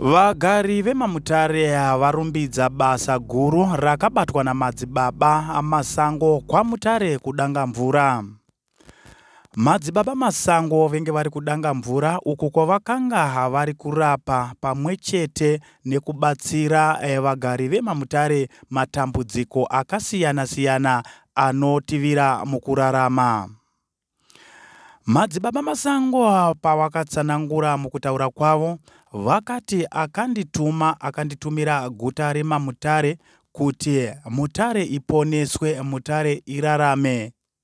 Vagari vemaMutare varumbidza basa guru rakabatwa namadzibaba amasango kwaMutare kudanga mvura. Madzibaba Masango venge vari kudanga mvura uku kwavakanga vari kurapa pamwe chete nekubatsira eh, vagari vemamutare matambudziko akasiyana-siyana anotivira mukurarama. Madzibaba Masango pavakatsanangura mukutaura kwavo vakati akandituma akanditumira guta remamutare kuti mutare iponeswe mutare irarame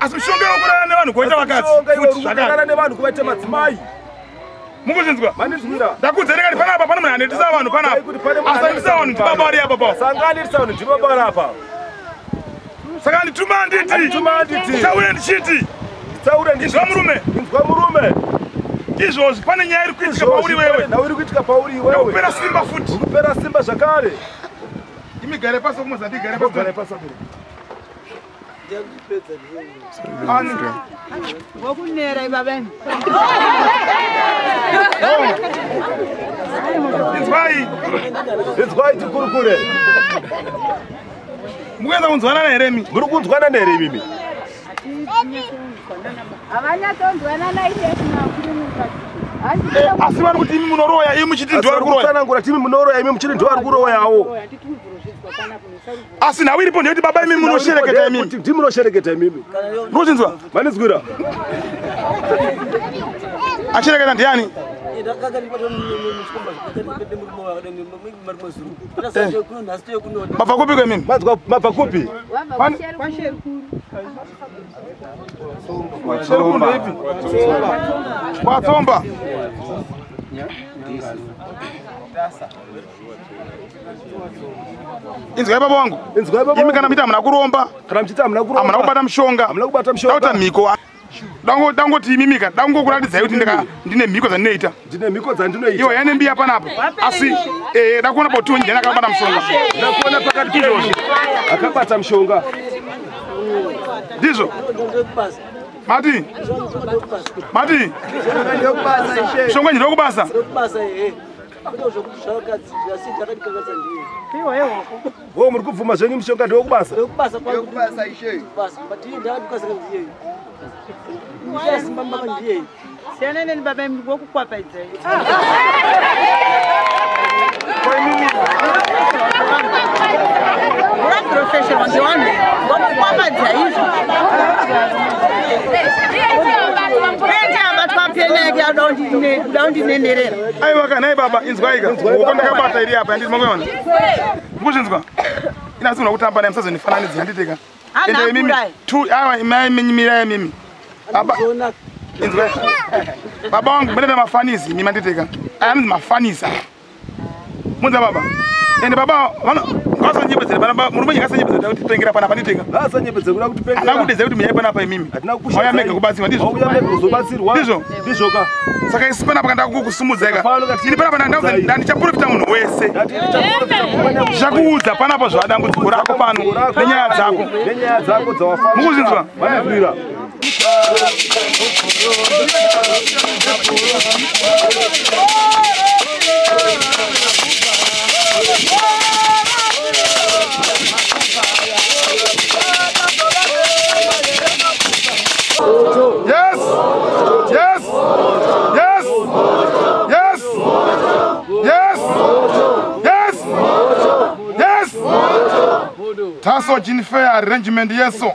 asi mishonga yokurara nevanhu kuvaita vakadzirara nevanhu kuvaita madzimai mukuzvinzwa ndakudze nekati panapa pane munhu anendisa vanhu panapa asandisa vanhu ndibaba vari apa pa sanga anendisa vanhu ndibaba vari apa saka ndituma nditi taure ndichiti taure ndinzwa murume ndinzwa murume izvozvi pane nyaya iri kuitika pauri wewe nhau iri kuitika pauri iwewe ndakupera simba futi ukupera simba zvakare imigare pasi kumozati igare pasi vokunera iva vene inzwai inzwai tikurukure mukuedza kunzwanana here mi muri kunzwanana here imimi havanyatonzwanana eh, asi vari kuti imi munoroya imi muchiti ndiwari kuroya tsanangura timi munoroya imi muchiti ndiwari kuroyawo asi nhau iripo ndeyekuti baba imimi munoshereketa imimi ndi munoshereketa imimi ndochinzwa manizwira ashereketa ndiani mabva kupi kwemimi mabva kupi kwatsomba inzwai baba wangu imi kana muita hamuna kuromba hamuna kubata mushonga dauta mhiko dangoti imimika dangokuratidzai kuti ndine mhiko dzandinoita iwo yane mbiya panapa asi eh, dakuona boti wenjani akabata mushongaakabata mushonga ndizvo mati mati mushonga njira wekubasa wo muri kubvuma zvenyu mushonga ndewekubasa siyana neni baba imi ngokukwapaidzai professional ndiwanhu ngokukwapaidzai Don't you, don't you, aiwa ka nhai baba inzwaika uko ndakabata iri apa yandiri makuiona mukuzvinzwa ina asi una kutamba naye musazonifananidzi yanditeka ende imimi t awa imai minyimirai mimi baba inzwa baba wangu mene nemafanisi imi manditeka ayanzi mafanisa Munza baba. Ende baba vano vasanyepedzera pana baba murume nyika sanyepedzera kuti tengera pana pani tenga. Baba sanyepedzera kuda kuti pengera. Ana kudeza kuti mnyaya pana pa imimi. Atina kukusha. Maya mega kubatsirwa ndizvo. Mauya mega kuzobatsirwa. Ndizvo. Ndizvo ka. Saka isi pana pakanda kukusimudza ka. Ini pana pana ndauza ndani chaprofita munhu wese. Zvakuudza pana pa zvadambudziko rako pano. Nenyaya dzako. Nenyaya dzako dzawafamba. Mukuzvinzwa. Vanazwira. Taso Jinfea Arrangement Yeso.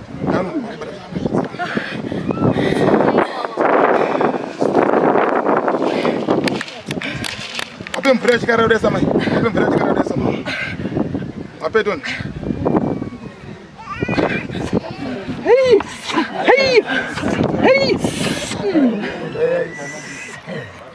Ape mvura chikara udesa mai. Ape mvura chikara udesa mai. Ape toni. Hey! Hey! Hey!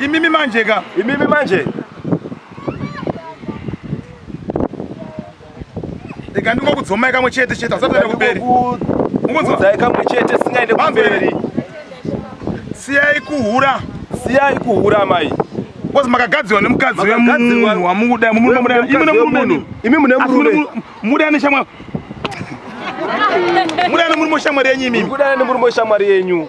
Imimi manje ka. Imimi manje. Ndika ndingo kudzomai kamwe chete chete asati aenda kuberi. Ungonzwa kamwe chete singaende kuberi. Siyai kuhura. Siyai kuhura mai. Bozi makagadziwa nemukadzi wemunhu wamukuda mumunhu muda imi mune murume imi mune murume muda ane shamwari muda ane murume shamwari yenyu imi muda ane murume shamwari yenyu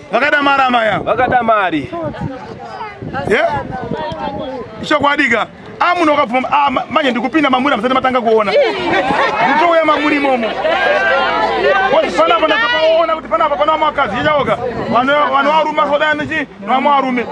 vakada mari amai ava vakada mari chokwadika amuno wakabvuma ah, manje ndikupinda mamuri amusati matanga kuona nditouya mamuri imomo panapa ndakapaona kuti panapa pana vamakadzi ichaoga vanovaruma sodanchi novamwe varume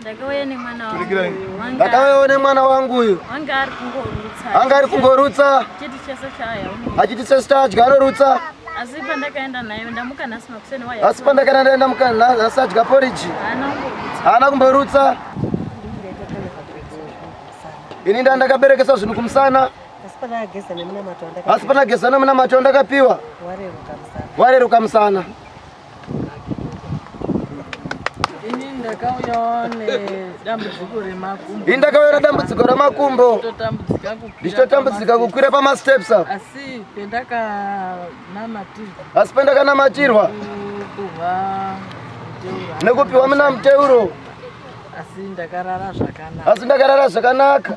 Ndakauya nemwana wangu. Wanga- ndakauyawo nemwana wangu uyu Wanga ari kungorutsa. anga ari kungorutsa Chiti chese chaya. achiti sesi chadya anorutsa Asi pandakaenda naye ndamuka nhasi makuseni waya. asi pandakana ndaenda mukana asi adya poriji Haana kungorutsa. haana kumborutsa ini nda ndakaberekesa zvinhu kumusana Asi pandakageza nemunamato asi pandageza nemunamato ndakapiwa wandareruka musana wareruka musana ini ndakauya nedambudziko remakumbo ndichitotambudzika kukwira pamasteps apa asi pendakanamatirwa nekupiwa muna muteuro asi ndakarara zvakanaka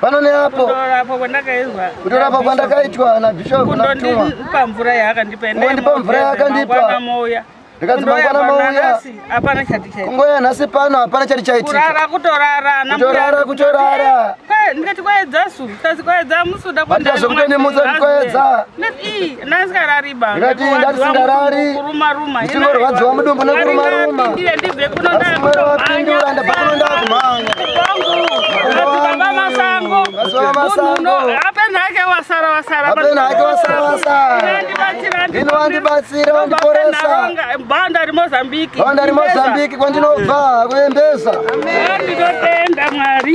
pano neapo kutorapa kwandakaitwa nabhishopu natumwa kundipa mvura yaakandipa kundipa mvura yaakandipa ndikadzimangwana mauya kungoya nhasi pano hapana chati chaitikakurara kutorara kutorara ndikati kwaedza su ndikazokutondimutsa ndikoedza ndikati ndatisingarari ndichingorwadziwa mudumbu nekurumaruma asimwero wapindura ndabva kuno ndakumhanya apena hake wasara wasara ino wandibatsira wandiporesa banda rimozambiki banda rimozambiki kwandinobva kuembeza ndinotenda mwari